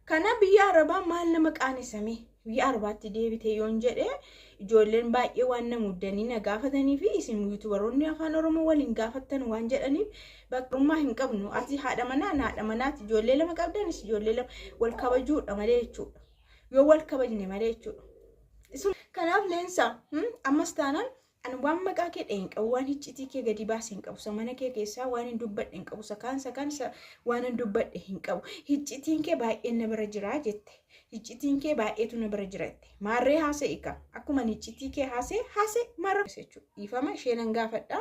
Kana biyya Arabaa maal nama qaanessame biyya Arabaatti deebite yoon jedhe ijoolleen baay'ee waan na muddanii na gaafatanii fi isin yuutubaroonni afaan Oromoo waliin gaafattan waan jedhaniif bakkarummaa hin qabnu. Ati haadha manaa na haadha manaati ijoollee lama qabdanis ijoollee lama wal kabajuudha malee jechuudha. Yoo wal kabajne malee jechuudha. Kanaaf leensa ammas taanaan Ani waan maqaa kee dha'e hin qabu, waan hiccitii kee gadi baase hin qabu, isa mana kee keessaa waan hin dubbadhe hin qabu, isa kaan isa kaan isa waan hin dubbadhe hin qabu. Hiccitiin kee baay'een na bira jira jette. Hiccitiin kee baay'eetu na bira jira jette. Maarree haasa'i ka. Akkuma ani hiccitii kee haasa'e haasa'e maarra jechuudha. Dhiifama ishee nan gaafadha.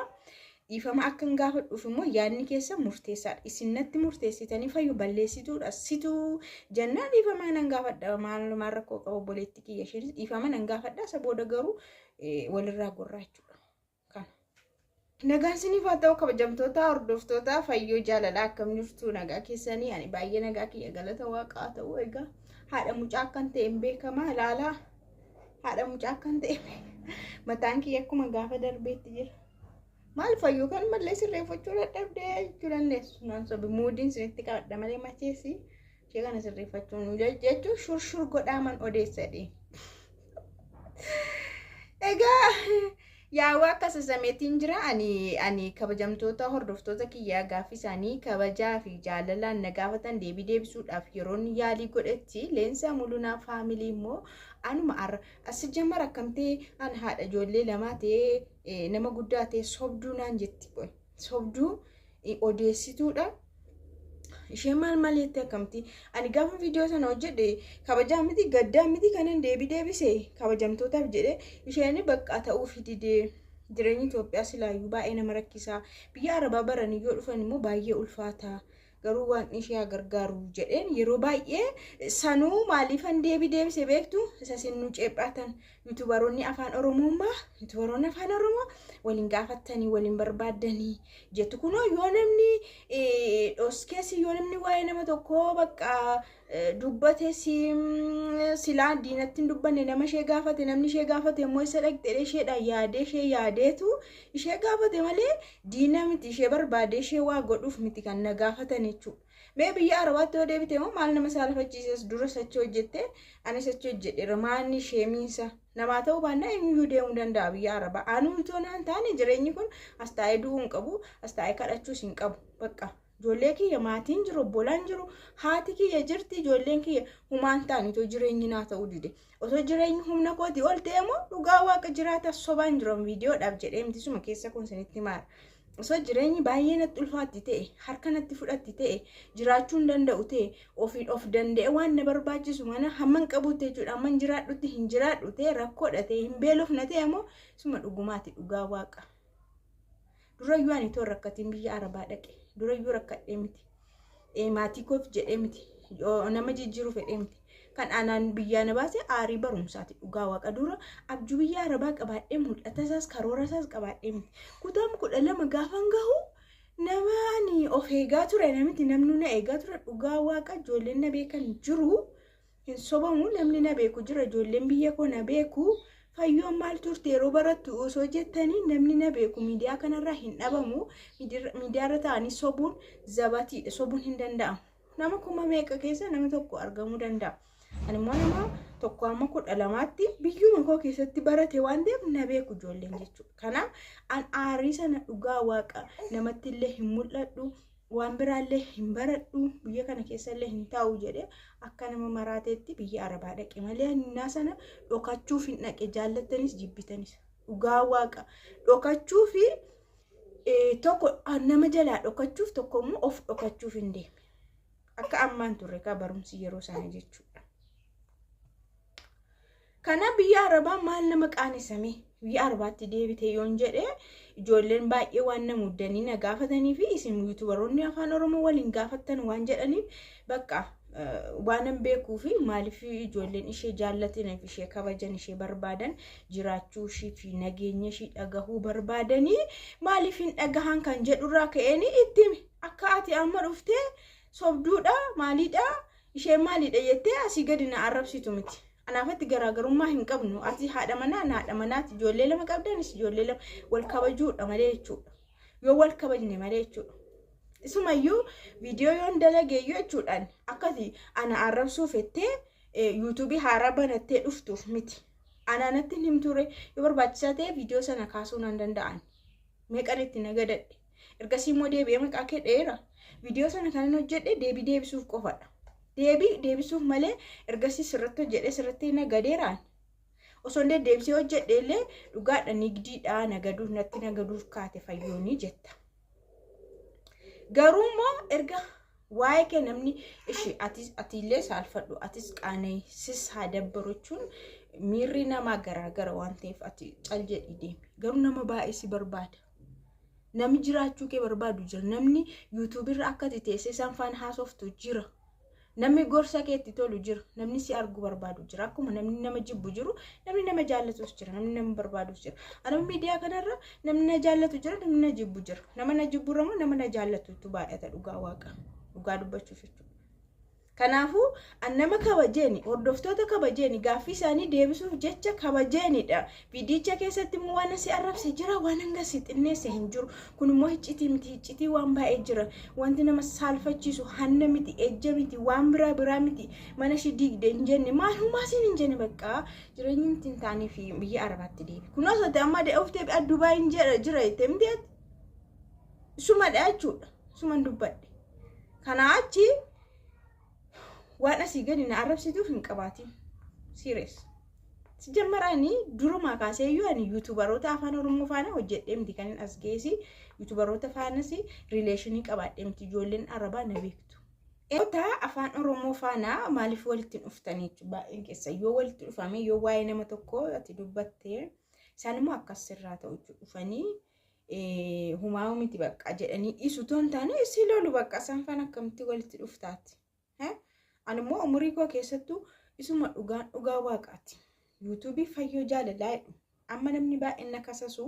Dhiifama akka hin gaafadhuuf immoo yaadni keessa murteessaadha. Isin natti murteessitanii fayyu balleessituudha. Situu jennaan dhiifama nan gaafadha. Maalumaan rakkoo qaba obboleetti kiyya isheenis dhiifama nan gaafadha. Isa booda garuu walirraa gorraa jechuudha. Kana. Nagaan isiniif haa ta'u kabajamtoota hordoftoota fayyoo jaalalaa akkam jirtu nagaa keessanii ani baay'ee nagaa kiyya galata waaqaa haa ta'u egaa haadha mucaa akkan ta'e hin beekama ilaalaa haadha mucaa akkan ta'e mataan kiyya akkuma gaafa darbeetti jira. Maal fayyoo kan mallee sirreeffachuu dadhabdee jechuu dandeessu. Naan sobi muudiin isinitti qabadha malee macheessi. Ishee kana sirreeffachuun jechuun shurshur godhaaman odeessadhe. Egaa yaawaa akka sasameetiin jira ani ani kabajamtoota hordoftoota kiyyaa gaaffii isaanii kabajaa fi jaalalaan na gaafatan deebii deebisuudhaaf yeroon yaalii godhetti leensaa mulunaa faamilii immoo anuma arra asi jammar akkamtee an haadha ijoollee lamaa ta'ee nama guddaa ta'ee sobduu naan jetti qoy. sobduu odeessituudha. Ishee maal maal jettee akkamti? Ani gaafa viidiyoo sana hojjedhe kabajaa miti gaddaa miti kanan deebi deebise kabajamtootaaf jedhe isheen bakka ta'uu fididee jireenyi Itoophiyaa silaayyuu baay'ee nama rakkisaa biyya arabaa baranii yoo dhufan immoo baay'ee ulfaataa. garuu waaqni ishee haa gargaaru jedheen yeroo baay'ee sanuu maaliifan deebii deebise beektu isa isin nu ceephaatan yuutubaroonni afaan oromoo maa yuutubaroonni afaan oromoo waliin gaafattanii waliin barbaaddanii jettu kunoo yoo namni dhoskeessi yoo namni waa'ee nama tokkoo bakka dubbate silaa diinatti hin dubbanne nama ishee gaafate namni ishee gaafate immoo isa dhaqxee isheedha yaadee ishee yaadeetu ishee gaafate malee diina miti ishee barbaadee ishee waa godhuuf miti kan na gaafatan jechuudha. Mee biyya arabaatti yoo deebite immoo maal nama saalafachiisas dura sachi hojjette ani sachi hojjedheera maanni ishee miinsa namaa ta'uu baannaa eenyuyyuu deemuu danda'a biyya arabaa anuu itoo naan taane jireenyi kun as taa'ee du'uu hin qabu as taa'ee kadhachuus hin qabu bakka. Ijoollee kiyya maatiin jiru obbolaan jiru haati kiyya jirti ijoolleen kiyya humaan ta'an itoo jireenyi naa ta'uu dide otoo jireenyi humna kooti ol ta'e immoo dhugaa waaqa jiraata sobaan jiran viidiyoodhaaf jedhee miti suma keessa kun sinitti maara osoo jireenyi baay'ee natti ulfaatti ta'e harka natti fudhatti ta'e jiraachuu hin danda'u ta'e ofiin of danda'e waan na barbaachisu mana hamman qabuutti jechuudha hamman jiraadhutti hin jiraadhu ta'e rakkoodha ta'e hin beelofna ta'e immoo suma dhugumaati dhugaa waaqa. Durayyuu ani toon rakkatiin biyya arabaa dhaqe. Durayyuu rakkadhee miti. Eh, Maatii koof jedhee miti. Yoo Nama jijjiiruu fedhee miti. Kan aanaan biyyaa na baase aarii barumsaati. Dhugaa waaqa dura abjuu biyya arabaa qabaadhee mul'ata isaas karoora isaas qabaadhee miti. Kutaan kudha lama gaafan gahu nama ani of eegaa ture namiti namni na eegaa ture dhugaa waaqa ijoolleen na beekan jiru. Hin sobamu namni na beeku jira ijoolleen biyya koo na beeku fayyoon maal turte yeroo barattu osoo jettanii namni na beeku miidiyaa kanarraa hin dhabamu miidiyaarra ta'anii sobuun zabatiidha sobuun hin danda'amu nama kuma meeqa keessa nama tokko argamuu danda'a ani immoo nama tokko amma kudha lamaatti biyyuma koo keessatti barate waan ta'eef na beeku ijoolleen jechuudha kanaaf an aarii sana dhugaa waaqa namatti illee hin mul'adhu waan biraallee hin baradhu biyya kana keessallee hin taa'u jedhe akka nama maraateetti biyya arabaa dhaqe malee hannaa sana dhokachuuf hin dhaqe jaallattanis jibbitanis dhugaa waaqa dhokachuu fi eh, tokko ah, nama jalaa dhokachuuf tokko immoo of dhokachuuf hin deeme akka ammaan turre kaa barumsi yeroo sana jechuudha. Kana biyya Arabaa maal nama qaanesame biyya Arabaatti deebite yoon jedhe ijoolleen baay'ee waan na muddanii na gaafatanii fi isin yuutubaroonni afaan Oromoo waliin gaafattan waan jedhaniif bakka waanan beekuu fi maaliif ijoolleen ishee jaallataniif ishee kabajan ishee barbaadan jiraachuu ishii fi nageenya ishii dhagahuu barbaadanii maaliif hin dhagahan kan jedhurraa ka'een itti akka ati amma dhuftee sobduudha maaliidha Isheen maaliidha jettee asii gadi na arrabsitu miti. Anaafatti garaagarummaa hin qabnu. Ati haadha manaa na haadha manaati. Ijoollee lama qabda anis ijoollee lama wal kabajuudha malee jechuudha. Yoo wal kabajne malee jechuudha. Isumayyuu viidiyoo yoon dalageeyyuu jechuudhaan akkati ana arrabsuu fettee yuutuubii haaraa banattee dhuftuuf miti. Anaanatti hin himtuure yoo barbaachisaa ta'e viidiyoo sana kaasuu nan danda'an. meeqan itti na gadadhe ergasii immoo deebi'ee maqaa kee dheera viidiyoo sana kanan hojjedhe deebii deebisuuf qofadha deebii deebisuuf malee ergasii sirratti hojjedhe sirratti na gadeeraan osoo hin deddeebisee hojjedhe illee dhugaadha nigdiidhaa nagaduuf natti nagaduuf kaate fayyoonii jetta garuu immoo erga Waa'ee kee namni ishi atis atiillee saalfadhu atis qaana'e sis haa dabbaru jechuun miirri namaa garaagara waan ta'eef ati cal jedhii deemi garuu nama baay'ee si barbaada. Namni jiraachuu kee barbaadu jira namni yuutuubirra akka ati teessee isaan faana haasoftu jira. Namni gorsa keetti tolu jira namni si argu barbaadu jira akkuma namni nama jibbu jiru namni nama jaallatus jira namni nama barbaadus jira. Anuma miidiyaa kanarra Namni na jaallatu jira, namni na jibbu jira. Nama na jibbu irra immoo nama na jaallatutu baay'ata dhugaa waaqa. Dhugaa dubbachuuf jechuudha. Kanaafuu an nama kabajeeni hordoftoota kabajeeni gaaffii isaanii deebisuuf jecha kabajeenidha. Viidiyicha keessatti immoo waan asi arrabse jira waan hanga si xinneesse hin jiru. Kun immoo hiccitii miti hiccitii waan baay'ee jira. Wanti nama saalfachiisu hanna miti ejja miti waan biraa biraa miti mana ishii diigde hin jenne maalumaa siin hin jenne baqqaa Jireenyi miti hin taanee fi biyya Arabaatti deebi. Kun osoo ta'e amma of deebi'aa Dubaayin jira jira jettee miti ati. Sumadha jechuudha. Suman dubbadhe. Kanaa achi waan asii gadi na arrabsituuf hin qabaatiin. Siiriyees. Si jammaraa inni durumaa kaasee iyyuu ani yuutubaroota afaan Oromoo faana hojjedhee miti kan hin as geessi. Yuutubaroota faanas riileeshinii qabaadhee miti ijoolleen Arabaa na beektu. Dhaloota afaan Oromoo faana maaliif walitti hin dhuftanii jechuudha baay'een keessa yoo walitti dhufame yoo waa'ee nama tokkoo ati dubbatte isaan immoo akkas sirraa ta'u jechuudha dhufanii eh, humaa miti bakka jedhanii dhiisu toon taane si lolu bakka isaan faana akkamitti walitti dhuftaati. Eh? Ani immoo umurii koo keessattuu isuma dhugaan dhugaa waaqaati. Yuutuubii fayyoo jaalalaa jedhu Amma namni baay'een na kasasu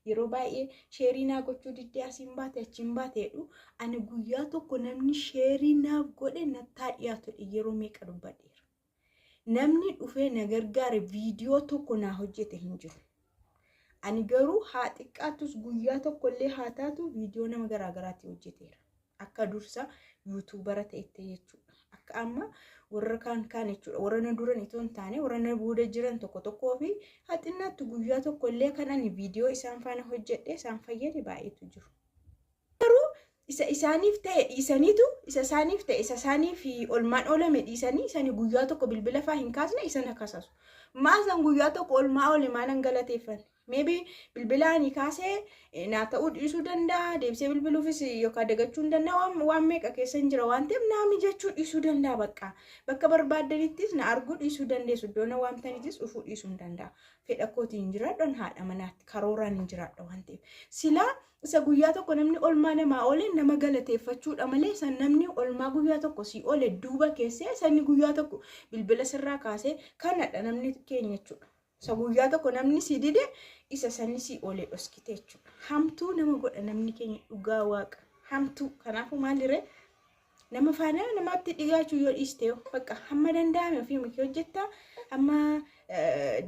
yeroo baay'ee sheerii naa gochuu diddee asiin baate achiin baate jedhu ani guyyaa tokko namni sheerii naaf godhe nattaa dhiyaatu jedhe yeroo meeqa dubbadheera. Namni dhufee na gargaare viidiyoo tokko naa hojjete hin jiru. Ani garuu haa xiqqaattus guyyaa tokkollee haa taatu viidiyoo nama garaagaraatii hojjeteera. Akka dursa yuutuubara ta'etti jechuudha. Akka amma warra kaan kaan jechuudha. Warra na duran itoo hin taane warra na booda jiran tokko tokkoo fi haxinnaatti guyyaa tokko illee kan ani viidiyoo isaan faana hojjedhee isaan fayyade baay'eetu jiru. Garuu isa isaaniif ta'e dhiisaniitu isa isaaniif ta'e isa isaaniif olmaan oolame dhiisanii isani guyyaa tokko bilbila faa hin kaasne isa na kasasu. Maasan guyyaa tokko olmaa oole maanan galateeffanne. Maybe bilbila ani kaase eh, naa ta'uu dhiisuu danda'a deebisee bilbiluufis yookaan dagachuu hin danda'a waan, waan meeqa keessa hin jira waan ta'eef naa mijachuu dhiisuu danda'a bakka bakka barbaaddanittis na arguu dhiisuu dandeessu iddoo na waamtanittis dhufuu dhiisuu hin danda'a fedha kootiin hin jiraadhan haadha manaatti karooraan hin jiraadha waan ta'eef silaa isa guyyaa tokko namni olmaa namaa oole nama galateeffachuudha malee isa namni olmaa guyyaa tokko sii oole duuba keessee sanni guyyaa tokko bilbila sirraa kaasee kanadha namni keenya jechuudha. Isa guyyaa tokko namni si dide isa sanni si oole dhoskite jechuudha. Hamtuu nama godha namni keenya dhugaa waaqa. Hamtuu kanaafuu maalirree nama faana namaatti dhigaachuu yoo dhiiste yoo bakka hamma danda'ame ofii makee hojjetta hamma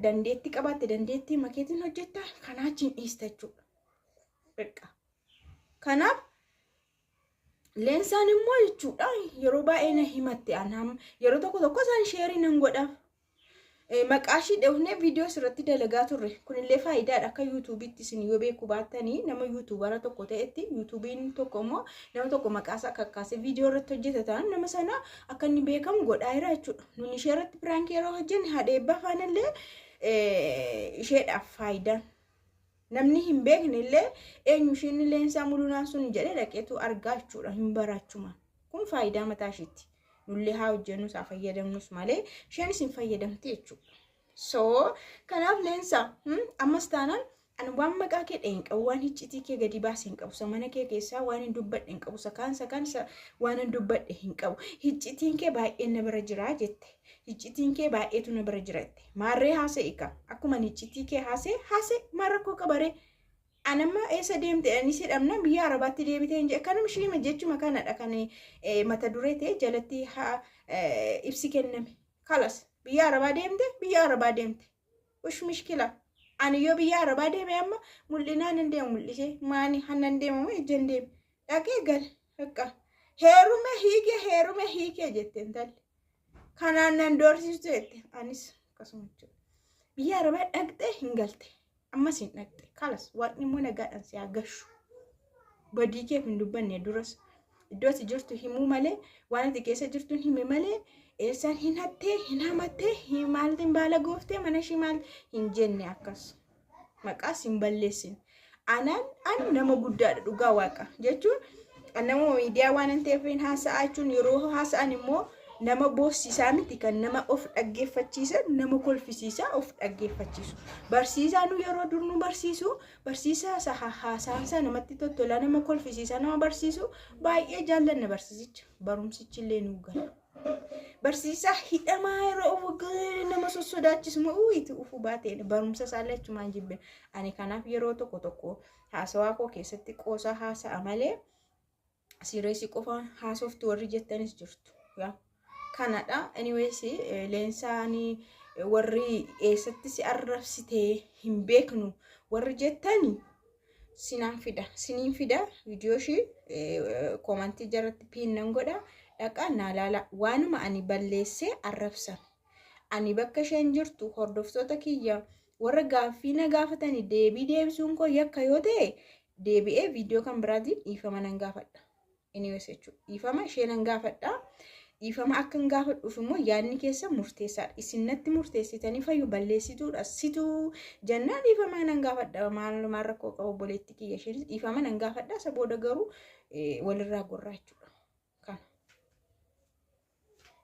dandeetti qabaatte dandeetti makeetiin hojjetta kanaa achiin dhiista jechuudha. Bakka kanaaf leensaan immoo jechuudha yeroo baay'ee na himatte anaam yeroo tokko tokko isaan sheerii nan godhaaf Maqaashii dhoofnee viidiyoos irratti dalagaa turre. Kunillee faayidaadha akka yuutuubiitti isin yoo beekuu baattanii nama yuutuubara tokko ta'etti yuutuubiin tokko immoo nama tokko maqaasaa akka akkaasee viidiyoo irratti hojjeta ta'an nama sana akka inni beekamu godhaa jira jechuudha. Nuni ishee irratti piraankii yeroo hojjenne haadha eebbaa faanallee isheedhaaf faayidaan. Namni hin beekne illee eenyu isheen leensaa mulunaa sun jedhee dhaqeetu argaa jechuudha hin baraachuma. Kun faayidaa mataa isheetti. Nullee haa hojjennus haa fayyadamnus malee isheenis hin fayyadamti jechuudha. So kanaaf leensaa ammas taanaan ani waan maqaa kee dhaheen qabu waan hiccitii kee gadi baase hin qabu mana kee keessaa waan hin dubbadhe hin qabu sakaan sakaan waan hin dubbadhe hin qabu hiccitiin kee baay'een na bira jiraa jette. Hiccitiin kee baay'eetu na bira jiratte. Maarree haasa'i ka. Akkuma ani hiccitii kee haasa'e haasa'e maa rakkoo qabaree. An amma eessa deemte jedhanii si dhabna biyya arabaatti deebitee hin jedhe kanuma ishiima jechuma kanadha kan eh, mata duree ta'e jalatti ha eh, ibsi kenname. Kalas biyya arabaa deemte biyya arabaa deemte. Ush mishkila. Ani yoo biyya arabaa deeme amma mul'inaan hin deemu mul'isee maani hannan deemamu ejjan deeme. Dhaqee gale Bakka heerume hiike heerume hiike jette intalli. Kanaan nan doorsistu jette anis akkasuma jechuudha. Biyya arabaa dhaqxee hin galte. Ammas hin dhaqxe. Kalas waaqni immoo nagaadhaan si haa gashu. Badii keef hin dubbanne duras. Iddoo ati jirtu himuu malee waan ati keessa jirtu hin hime malee eessaan hin hattee hin hamattee hin maaltiin baala gooftee mana ishii maal hin jenne akkas. maqaa sin balleessin anaan an nama guddaadha dhugaa waaqa jechuun an nama miidiyaa waan hin ta'eef hin haasa'aa jechuun yeroo haasa'an immoo nama boossisaa miti kan nama of dhaggeeffachiisan nama kolfisiisaa of dhaggeeffachiisu barsiisaa nu yeroo dur nu barsiisu barsiisaa isa ha- haasaan isaa namatti tottolaa nama kolfisiisaa nama barsiisu baay'ee jaallanna barsiisicha barumsichi illee nu gala. Barsiisaa hidhamaa yeroo waggaa nama sossodaachisu moo itti ufuu baatee barumsa isaallee achumaan jibbe. Ani kanaaf yeroo tokko tokko haasawaa koo keessatti qoosaa haasa'a malee siireesii qofaan haasoftu warri jettanis jirtu. Yaa. Kanadha. Anyways eh, leensaanii eh, warri eessatti si arrabsitee hin beeknu warri jettani sinan fida sinin fida viidiyoo ishii koomantii jalatti piin nan godha dhaqaa naa laala waanuma ani balleessee arrabsan ani bakka isheen jirtu hordoftoota kiyya warra gaaffii na gaafatanii deebii deebisuun koo yakka yoo ta'e deebi'ee viidiyoo kan biraatiin dhiifama nan gaafadha. Anyways jechuudha. Dhiifama ishee nan gaafadha. Dhiifama akka hin gaafadhuuf immoo yaadni keessa murteessaadha. Isin natti murteessitanii fayyu balleessituudha. Situu jennaan dhiifama nan gaafadha. Maalumaa rakkoo qabu obboleetti kiyya isheenis dhiifama nan gaafadha. Isa booda garuu walirraa gorraa jechuudha. Kana.